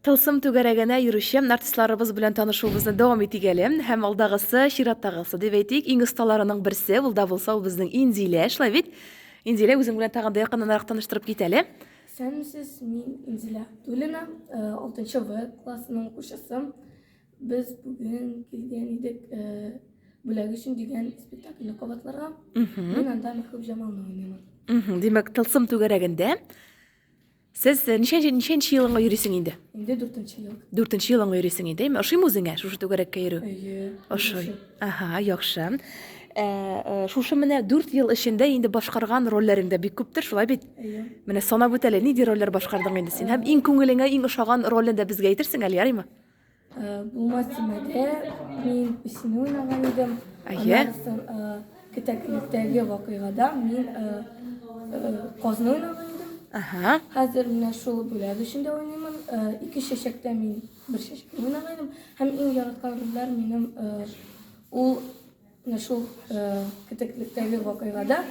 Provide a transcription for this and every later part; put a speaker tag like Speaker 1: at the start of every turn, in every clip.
Speaker 1: Тылсым түгәрәгенә йөрүче артистларыбыз белән танышуыбызны дәвам итик әле. Һәм алдагысы, чираттагысы, дип әйтик, иң осталарының берсе, ул да булса ул безнең Инзилә, шулай бит? Инзилә, үзең белән тагын да якыннанрак таныштырып кит әле. Исәнмесез,
Speaker 2: мин Инзилә Абдуллина, э, алтынчы В классының укучысы. Без бүген килгән идек э, бүләк өчен дигән спектакльне кабатларга. Мин анда Мәхбүб Җамалны уйныйм. Мгм, Димәк, тылсым
Speaker 1: түгәрәгендә. Сез ничәнче ничәнче елыңа йөрисең инде? Инде дүртенче
Speaker 2: ел. Дүртенче елыңа йөрисең
Speaker 1: инде, әйме? Ошыймы үзеңә шушы түгәрәккә йөрү? Әйе. Ошый. Ага, яхшы. Ә, э, шушы менә дүрт ел эчендә инде башкарган рольләрең дә бик күптер, шулай бит? Әйе. Менә санап үт әле, нинди рольләр башкардың инде син? Һәм иң күңелеңә иң ошаган ролен дә безгә әйтерсең әле, ярыймы? Булмас
Speaker 2: тимәде, мин песен уйнаган идем. Әйе. Кетәклектәге вакыйгада мин казны уйнаган идем. Ага. Хәзер менә шул бүләк эчендә уйныймын. Ике чәчәктә мин бер чәчәкне уйнаган идем. Һәм иң яраткан рольләр минем ул Менә шул э, кетеклектәге вакыйгада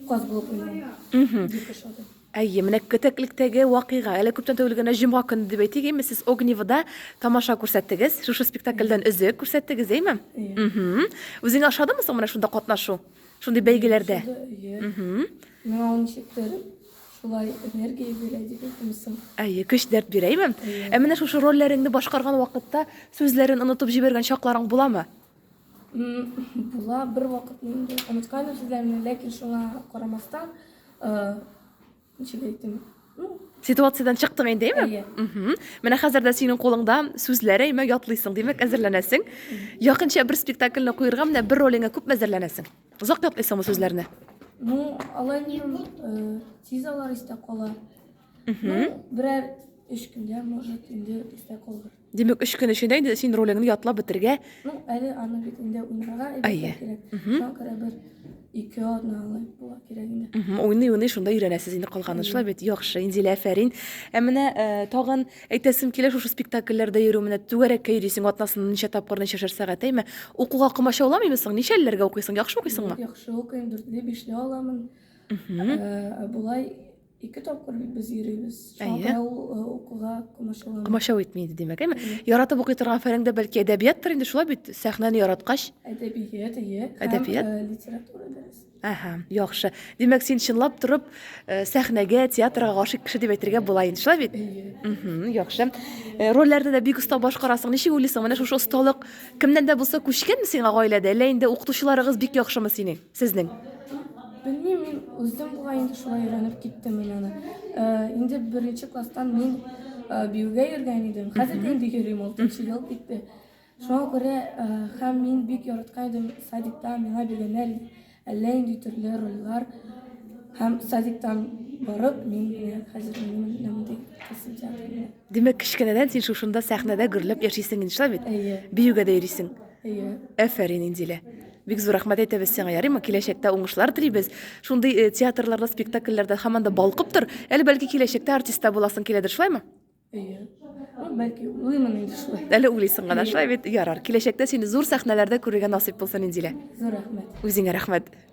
Speaker 2: каз булып уйнау. Дип ошады. Әйе, менә
Speaker 1: кетеклектәге вакыйга. Әле күптән түгел генә җомга көне дип әйтик, әйме, сез Огневода тамаша күрсәттегез, шушы спектакльдән өзек күрсәттегез, әйме? Мгм. Үзеңә ошадымы соң менә шунда катнашу? Шундый бәйгеләрдә? Әйе. Мгм. Миңа ул ничектер
Speaker 2: шулай энергия бирә дип әйтәмсең. Әйе, көч дәрт бирә,
Speaker 1: әйме? Ә менә шушы рольләреңне башкарган вакытта сүзләрен онытып җибәргән чакларың буламы?
Speaker 2: Була бер вакыт инде онытканым сезләрне, ләкин шуңа карамастан, ничек әйтим, ситуациядән
Speaker 1: чыктың инде әйме менә хәзер дә синең кулыңда сүзләр әйме ятлыйсың димәк әзерләнәсең якынча бер спектакльне куерга менә бер ролеңә күпме әзерләнәсең озак ятлыйсыңмы сүзләрне ну
Speaker 2: алай сизалар истә кала Берәр өч көнгә, может, инде истә калыр. Димәк, өч көн эчендә
Speaker 1: инде син ролеңне ятлап бетергә. Ну, әле аны
Speaker 2: бит инде уйнарга әйбәт кирәк. Шуңа күрә бер ике атна алай була кирәк инде. Уйный, уйный, шунда өйрәнәсез
Speaker 1: инде калганы шулай бит. Яхшы, Инзилә, афәрин. Ә менә э, тагын әйтәсем килә шушы спектакльләрдә йөрү менә түгәрәккә йөрисең атнасына ничә тапкыр ничәшәр сәгать әйме? Укуга комачауламыймы соң? Ничәлеләргә укыйсың? Яхшы укыйсыңмы? Яхшы укыйм, дүртле,
Speaker 2: бишле аламын. Ә, Ә болай Ике тапкыр бит без йөрибез. Шуңа Әйе. күрә ул э, укуга комачаулана. Комачау итми иде, димәк,
Speaker 1: әйме? Яратып укый торган фәнең дә бәлки әдәбияттыр инде, шулай бит, сәхнәне яраткач. Әдәбият,
Speaker 2: әйе. Һәм, Әдәбият. э, литература дәресе. Әһә, яхшы. Димәк,
Speaker 1: син чынлап торып э, сәхнәгә, театрга гашыйк кеше дип әйтергә була инде, шулай бит? Әйе. Мгм, яхшы. Э, Рольләрне дә бик оста башкарасың. Ничек уйлыйсың, менә шушы осталык кемнән дә булса күчкәнме сиңа гаиләдә, әллә инде укытучыларыгыз бик яхшымы синең? Сезнең? Белмим,
Speaker 2: мин уздым бугай инде шулай өйрәнеп киттем мин аны. Инде беренче класстан мин биюгә йөргән идем. Хәзер дә инде йөрим, алтынчы ел китте. Шуңа күрә һәм мин бик яраткан идем садикта миңа биргәннәр әллә инде төрле рольләр. Һәм садиктан барып мин хәзер менә монда килсем килә. Димәк, кечкенәдән
Speaker 1: син шушында сәхнәдә гөрләп яшисең инде, шулай бит? Әйе. Биюгә дә йөрисең. Әйе. Әфәрин, Инзилә. Бик зур рәхмәт әйтәбез сиңа, ярыймы? Киләчәктә уңышлар телибез. Шундый э, театрларда, спектакльләрдә һаман да балкып тор. Әле бәлки киләчәктә артист та буласың киләдер, шулаймы? Әйе. Ну,
Speaker 2: Бәлки, уйлыймын инде шулай. Әле уйлыйсың гына, шулай
Speaker 1: бит? Ярар. Киләчәктә сине зур сәхнәләрдә күрергә насыйп булсын, Инзилә. Зур рәхмәт. Үзеңә рәхмәт.